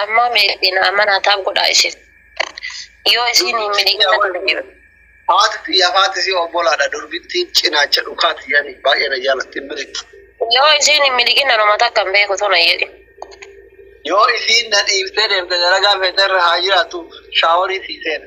Amma meetiin amana taab godhaa isin. Yoo isin hin miliqina darbira. Haati xiyya haati si obbolaadha durbitti cinaacha dhukaa xiyyani baay'ee na jaalatti hin miliqi. Yoo isin hin miliqina nama takka hin beeku tuna jedhi. Yoo isiin na dhiiftee deemte dalagaa feeterra haa jiraattu shaaworii sii seena.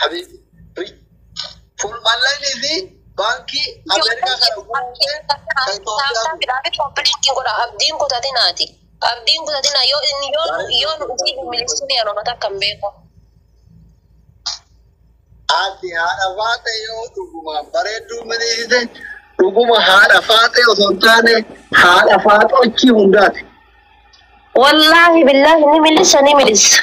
Habibi. Ri. Full online fi baankii Ameerikaa kana guutee kan Itoophiyaa guute. Abdiin kutatinaati. Abdiin kutatina yoo inni yoo nu yoo nu utii miliksini yeroo takka hin beeku. Ati haadha faate yoo dhugumaan bareedduu miliisite dhuguma haadha faate osoo hin taane haadha faaxochii hundaati. Wallaahi billaahi ni milissa ni milissa.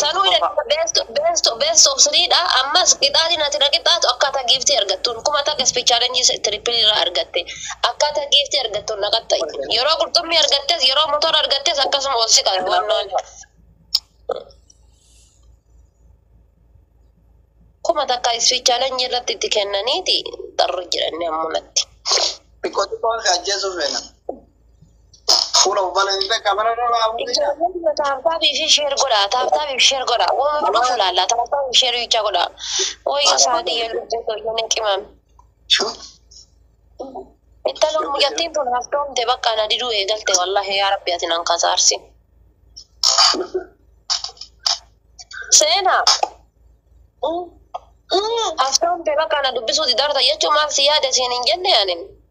Sanuu jedhe best best best of three dha. Ammas qixaatiin ati na qixaatu akkaataa giiftii argattuun kuma takka speed challenge triple irraa argatte. Akkaataa giiftii argattuun na qaxxa'i. Yeroo qurxummii argattes yeroo motora argattes akkasuma ol si qabe wannaan. Kuma takka speed challenge irratti itti kennaniiti xarru jedhanne ammunatti. Xiqqoo xiqqoon si ajjeesuuf feena. Fuula uffata hin beekaa bara dhala abuudha. Ijoolleen taaptaabii fi sheer godha. Taaptaabii fi sheer godha. Waan nu dhufu laalla. Taaptaabii fi sheer bichaa godha. Wayyo saadii yoo lubbuu too yoo na qimame. Intaloon mucattiin tun haftoomte bakka na diduu eegalte wallahi yaa rabbi ati nan kasaarsi. Seenaa. Haftoomte bakka na dubbisuu didarta jechuun maal si yaade siin hin jenne ani.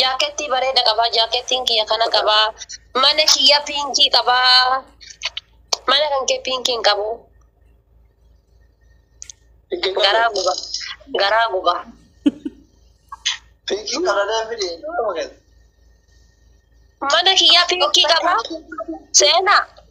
Jaakettii bareeda qabaa. Jaakettiin kiyya kana qabaa. Mana kiyya piinkii qabaa. Mana kan kee piinkii hin qabu. Garaa guba. Garaa guba. Piinkii karadaan fide. Mana kiyya piinkii qabaa. Seenaa.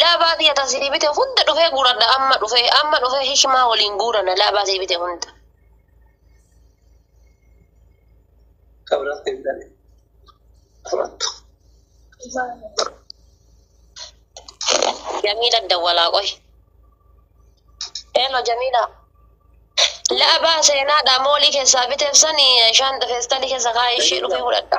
Laabaa kiyya tan sii bite hunda dhufee guuradha amma dhufee amma dhufee hikmaa waliin guurana laabaa sii bite hunda. Kabra sii bitane. Amattu. Jamiila dawwalaa qoy. Eelo Jamiila. Laabaa seenaadha moolii keessaa biteef sani shaanta feestaalii keessa kaa'ee ishee dhufee fudhadha.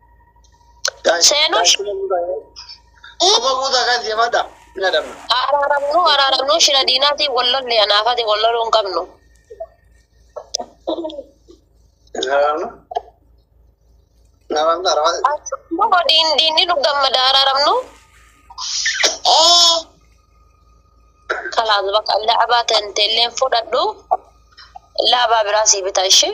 Seenuu shi- Kuma guutaa kan deemadha. Hin adabna. Araaramnu araaramnu shira diinaatiin wal lolle anaafati wal loluu hin qabnu. Hin adabna. Nama hin arabaa. Akkuma diin diinni nu gammada araaramnu. Kalaas bakka laabaa ta'e illee fudhadhu. Laabaa biraa sii bitaa ishee.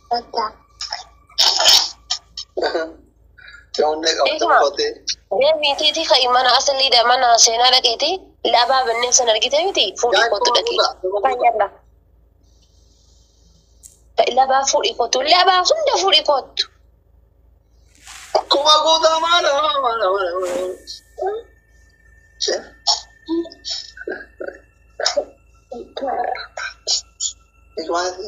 Deebiitiiti ka'i mana asaliidha mana seenaa dhaqeeti labaa bannee san argite miti fuudhii kottu dhaqi. Labaa fuudhii kottu labaa hunda fuudhii kottu. Kuma guutaa maala maala maala maala. Maali?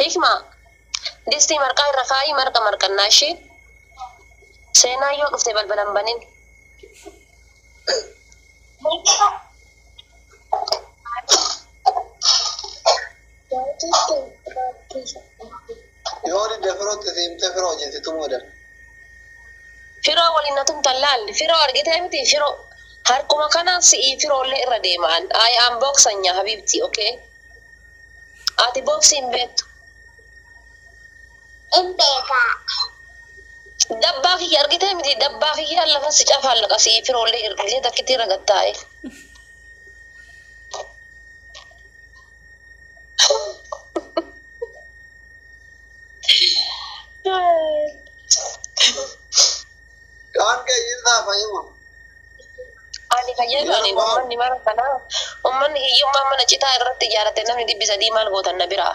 Hikma distii marqaa irra kaa'ii marqa marqannaa ishii seenaa yoo dhufte balbala hin banin. Thank you. Yoo didde firootti si himtee firoo wajjin si tumuu edan. Firoo waliin na tumtan laal. Firoo argitee miti firoo. Harkuma kanaan si'ii firoollee irra deema an. I am boksanya habiibti okay. Ati boksii hin beektu. In beekaa. Dabbaa kiyya argitee miti dabbaa kiyya lafa si cafaan laqa si'ii firoollee irra takkitti irra gattaa'e. Kaan kee hin saa fayyuma. Ani fayyadu ani ummanni mara kanaa ummanni hiyyummaa mana citaa irratti ijaarate namni dhibbi sadii maal gootan na biraa.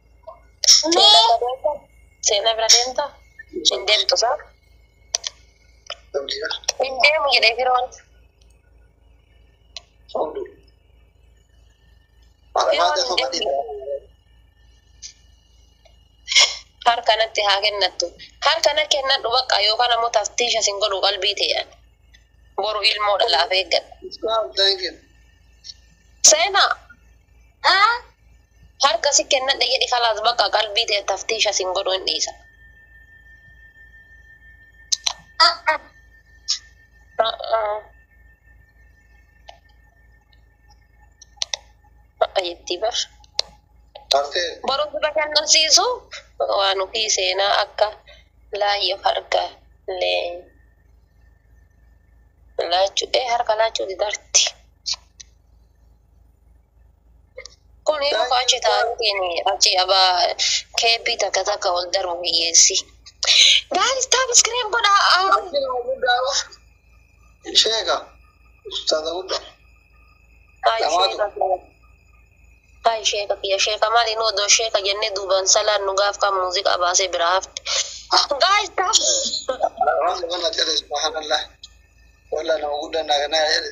Seenaa bira deemta? Hin deemtu isaa? Hin deemu jedhee firoon. Harka natti haa kennattu. Harka na kennadhu bakka yookaan ammoo taftiisha sin godhu qalbii ta'e. Boru ilmoo dhalaaf eeggadha. Seenaa. Harka si kennadhe jedhi kalaas bakka qalbii tee taftiisha sin godhu hin dhiisa. jettii bar. Taftee. Baruu si bashannansiisu waan ofii seenaa akka laayyo harka lee laachuu ee harka laachuu didarti. Kun yeroo koo achi taa'ateen achi abaa keeppii takka takka ol darbu hiyyeessi. Guys, taap iskiriin godhaa. Sheeka. Ustaaza guddaa. Haay Dhamaatu. sheeka kiyya. Haay sheeka kiyya. Sheeka maali nu odoo sheeka jennee duubaan salaan nu gaaf kan muuziqaa baasee biraa hafte. Guys, taap. Waan kana jedhe subhanallah. Wallah nama guddaa naa ganaa jedhe.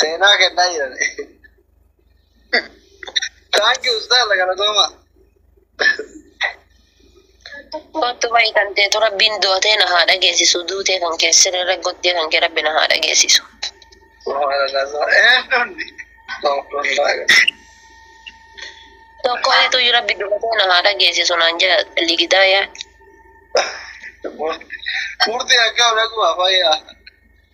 Seenaa kennaa jiran. Thank you ustaaza galatooma. Kottu bayi kan teetu rabbiin dootee na haa dhageessisu duutee kan kee sirrirra gottee kan kee rabbi na haa dhageessisu. Tokko ituu yoo rabbi dubatee na haa dhageessisu naan jira ligidaa yaa. Murtii akkaa dhaquu afayyaa.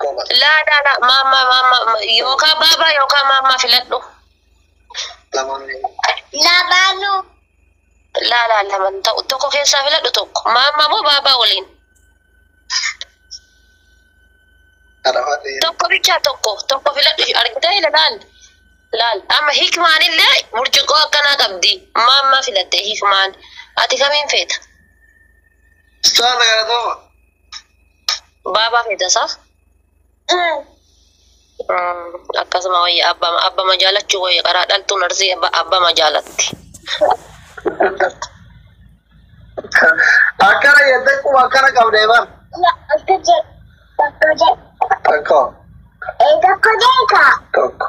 Goba. Laa laa laa maammaa maammaa yookaa baabaa yookaa maammaa filadhu. Namoonni Labaanuu. Laa laa laman ta'u tokko keessaa filadhu tokko maammaa moo baabaa waliin adafaa ta'e tokko bichaa tokko tokko filadhu argitee ila laal laal amma hikmaan illee burcuqqoo akkanaa qabdi maammaa filatte hikmaan ati kamiin feeta. Ustaaza galatooma. Baabaa feetasaa. Akkasuma wayya abbama abbama jaalachuu wayya qaraa dhaltuun arsii abba- abbama jaalatti. Akkana jettee quba akkana qabdee bar. Tokko. Tokko.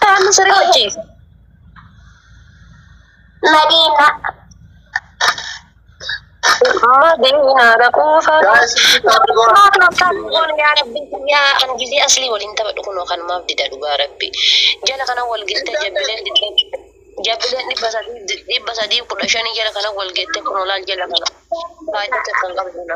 Namni sirrii hojjeessa. Madiina. Madiina dhaquu Guys, itti taatu goora. Maaf maaf taatu goona yaa rabbi yaa an gizee aslii waliin taphadhu kunoo kan maaf dida dhugaa rabbi jala kana wal gettee jabbileen didee jabbileen dhibba sadii di- dhibba sadii kudha shanii jala kana wal gettee kunoo laal jala kana faayidaa tokko hin qabdu na.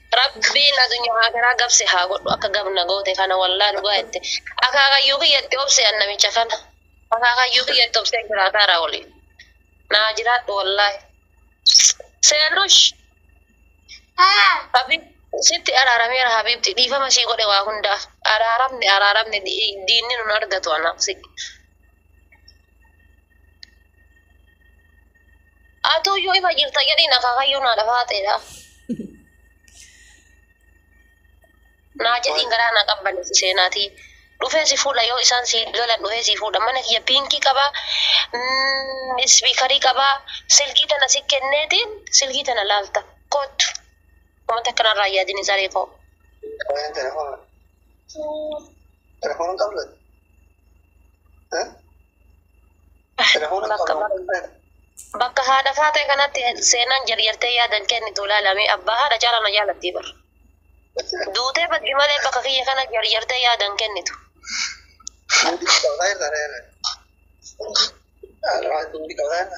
Rabbiin adunya akiraa gab si haa godhu akka gab na goote kana wallah dhugaa jette akaakayyuu kiyya itti obse an namicha kana akaakayyuu kiyya itti obsee jiraataara wali naa jiraadhu wallahi seenush Habib sitti araarameera Habibti dhiifama sii godhe waa hundaaf araaramne araaramne di- diinni nun argatu anaaf si Atuu yoo ifa jirta jedhiin akaakayyuu naa dhafaa ta'edha. Naa jedhiin garaa naa qabbaneessi seenaatii. Dhufee si fuudha yoo isaan si lolan dhufee si fuudha. Mana kiyya piinkii qabaa, mm, ispiikarii qabaa, silkii tana si kenneetiin silkii tana laalta. Kottu. Uummata akkanarraa hin yaadini saree koo. Baay'een telefoona. Telefoona qabdu ati? Eh? Telefoona Bakka- qabdu ati? Bakka haadha faatee kanatti seenaan jarjartee yaadan kennitu ilaalame abbaa haadha caalaa na jaalattii bar. Duutee baddi malee bakka kiyya kana jarjartee yaadan kennitu. Duuti qabdaa jirta reere. Haadha faatee duuti qabdaa jirta.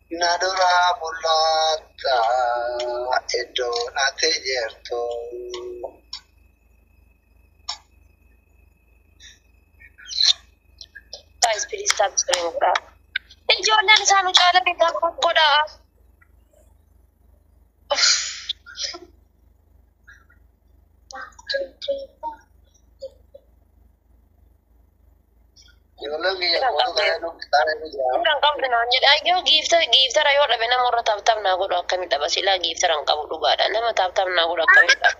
Na duraa mul'atta iddoon ati jirtu. Guys, please tap screen godhaa. Ijoolleen isaa nu caala beekaa godhaa. Kan qabdu naan jedha yoo giifta giiftara yoo dhabe nama irra taaptaap naa godhu akkamitti dhaba silaa giiftara hin qabu dhugaadha nama taaptaap naa godhu akkamitti dhaba.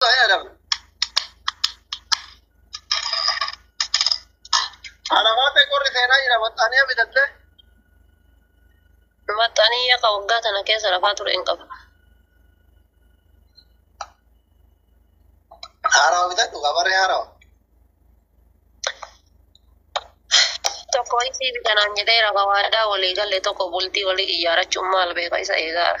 Adam. Alaabaa ta'e qorri seenaa jira maxxanee bitattee. Maxxanii akka waggaa tana keessa lafaa ture hin qabu. Haarawa bitadhu gabarree haarawa. Tokko isii bitanaan jedhee rafa waadaa walii galle tokko bultii walii ijaarachuun maal beeka isa eegaara.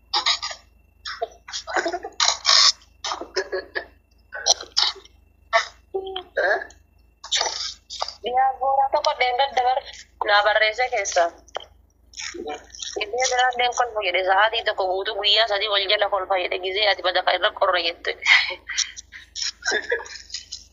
Yaa booraa tokko dheengadda dabar naa barreessee keessaa. Gizee biraan deen kolfa jedhe sa'aatii tokko guutuu guyyaa sadii wal jala kolfa jedhe gizee ati badaqa irra qorra jette.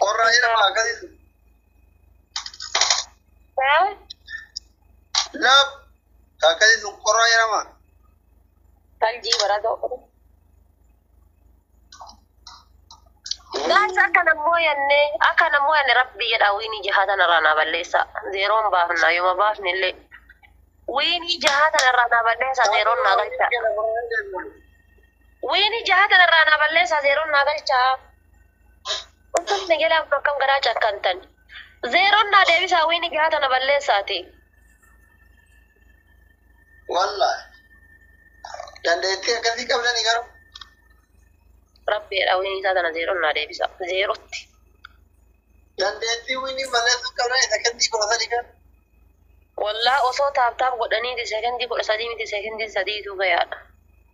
Qorraa jedhama akkasii. Haa? Laaf akkasii sun qorraa jedhama. Faljii baratoo. Gaas akka nammoo yanne akka nammoo yanne rabbi jedha wiini jahaa tanarraa naa balleessa zeeroon baafna yooma baafne illee wiini jahaa tanarraa naa balleessa zeeroon naa galcha. Weenii jaha tana irraa naa balleessaa zeeroon naa galchaa Uffan na jalaa kun akkam garaa cakkantan Zeeroon naa deebisaa wiinii jaha tana balleessaati. Wallahi. Dandeettii akkasii qabdanii garuu. Rabbeedha wiinii isaa tana zeeroon naa deebisaa zeerootti. Dandeettii wiinii balleessuu qabdan isa kennii kudha sadii kan. Wallah osoo taaptaap godhaniiti sekendii kudha sadii miti sekendii sadiitu gayaadha.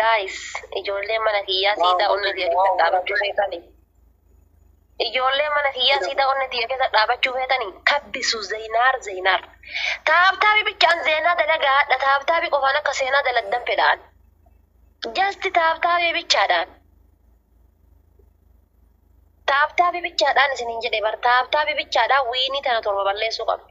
Guys, ijoollee mana kiyyaa siidaa onnee tiyya keessa dhaabachuu feetanii. Ijoollee mana kiyyaa siidaa onnee tiyya keessa dhaabachuu feetanii. Kabbisu Zeynaar Zeynaar. Taabtaabi bichaan seenaa dalagaa hadha taabtaabi qofaan akka seenaa dalagdan fedhaan. Jasti taabtaabi bichaadhaan. Taabtaabi bichaadhaan isiniin jedhe bar taabtaabi bichaadhaan wiinii tana torba balleessuu qabna.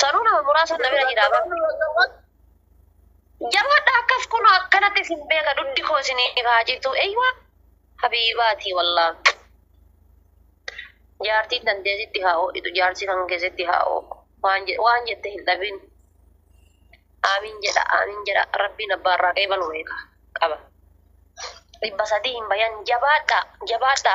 Sanuu nama muraasa na bira jira bara. Jabaadha akkas kunoo akkanatti isin beeka duddi koo isiniif haa citu. Eeyyuwa habiibaati wallaa. Jaartiin tantee sitti haa ho'itu jaarsi kan kee sitti haa ho'u. Waan je- waan jette hin dhabin. Aamiin jedha aamiin jedha rabbiin abbaa irraa qeebalu beeka qaba. Dhibba sadii hin bayan jabaadha jabaadha.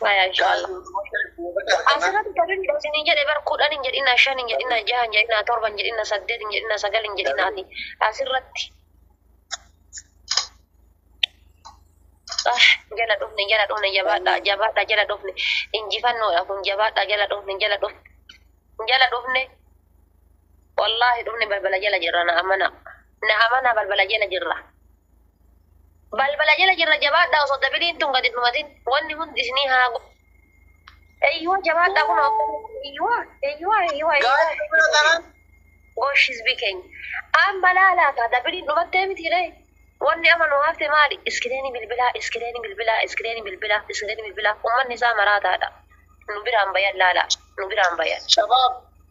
Maya inshallah. Asirratti garin isin jedhe bar kudhan hin jedhina shan hin jedhina jaha hin jedhina torba hin jedhina saddeet hin jedhina sagal hin jedhina ati asirratti. Ah, jala dhufne jala dhufne jabaadha jabaadha jala dhufne injifannoodha kun jabaadha jala dhufne jala dhufne jala dhufne wallaahi dhufne balbala jala jirra na amana na amana balbala jala jirra. Balbala jala jirra jabaadhaa osoo dabiliin tun gadi dhumatin wanni hundi isinii haa go. Eyyuwa jabaadhaa kun eyyuwa eyyuwa eyyuwa eyyuwa. Gosh hizbii keenya. Aan balaa laata dabiliin dhumattee miti ree. Wanni ama nu hafte maali iskireeni bilbilaa iskireeni bilbilaa iskireeni bilbilaa iskireeni bilbilaa ummanni isaa maraataadha. Nu biraan bayan laalaa nu biraan bayan. Shabaab.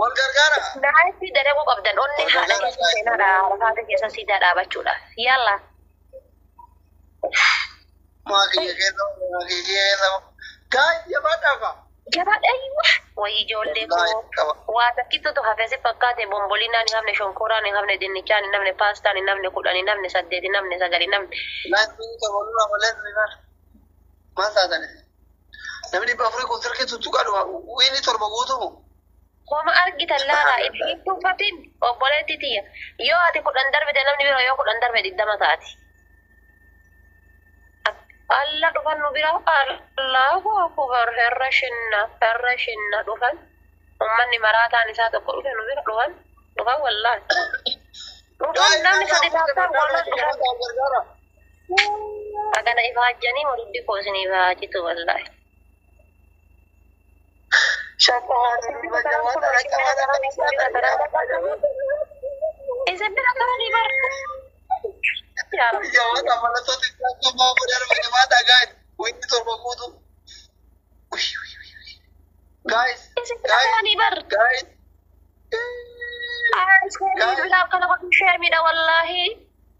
Wal gargaara. Naayifii dalaguu qabdan onnee Wal haadha gargaara, keessa seenaadha naayifii. arafaata keessa siidaa dhaabachuudhaaf. Yalla. Maa kiyya keessa maa kiyya keessa. Gaay jabaadhaa kaa. Jabaadha iyyuu. Wayii ijoollee Wallaahi koo. qaba. Waa takkittutu hafee si fakkaate bombolinaan hin hafne shonkooraan hin hafne dinnichaan hin hafne paastaan hin hafne kudhan hin hafne saddeet hin hafne sagal hin hafne. Naayifii taphachuudhaaf malee maal taatanii? Namni dhibba afurii kun sirkii tuttuqaa dhufa. Wiinni torba guutumu. Homa argitan laala itti tuffatin obboleetti tiyya. Yoo ati kudhan darbite namni bira yoo kudhan darbe digdama taati. Alla dhufan nu bira Allahu akubar herra shinna herra shinna dhufan. Ummanni maraataan isaa tokko dhufe nu bira dhufan dhufan wallaahi. Dhufan namni sadi taasisaan wallaahi dhufan. Bagana ifa hajjanii waluddi koo isiniif haa citu wallaahi. Isin bira qabanii bara. Yaa Rabbi. Isin bira qabanii bara. Aa, isin bira akkana godhu sheermiidha wallaahi.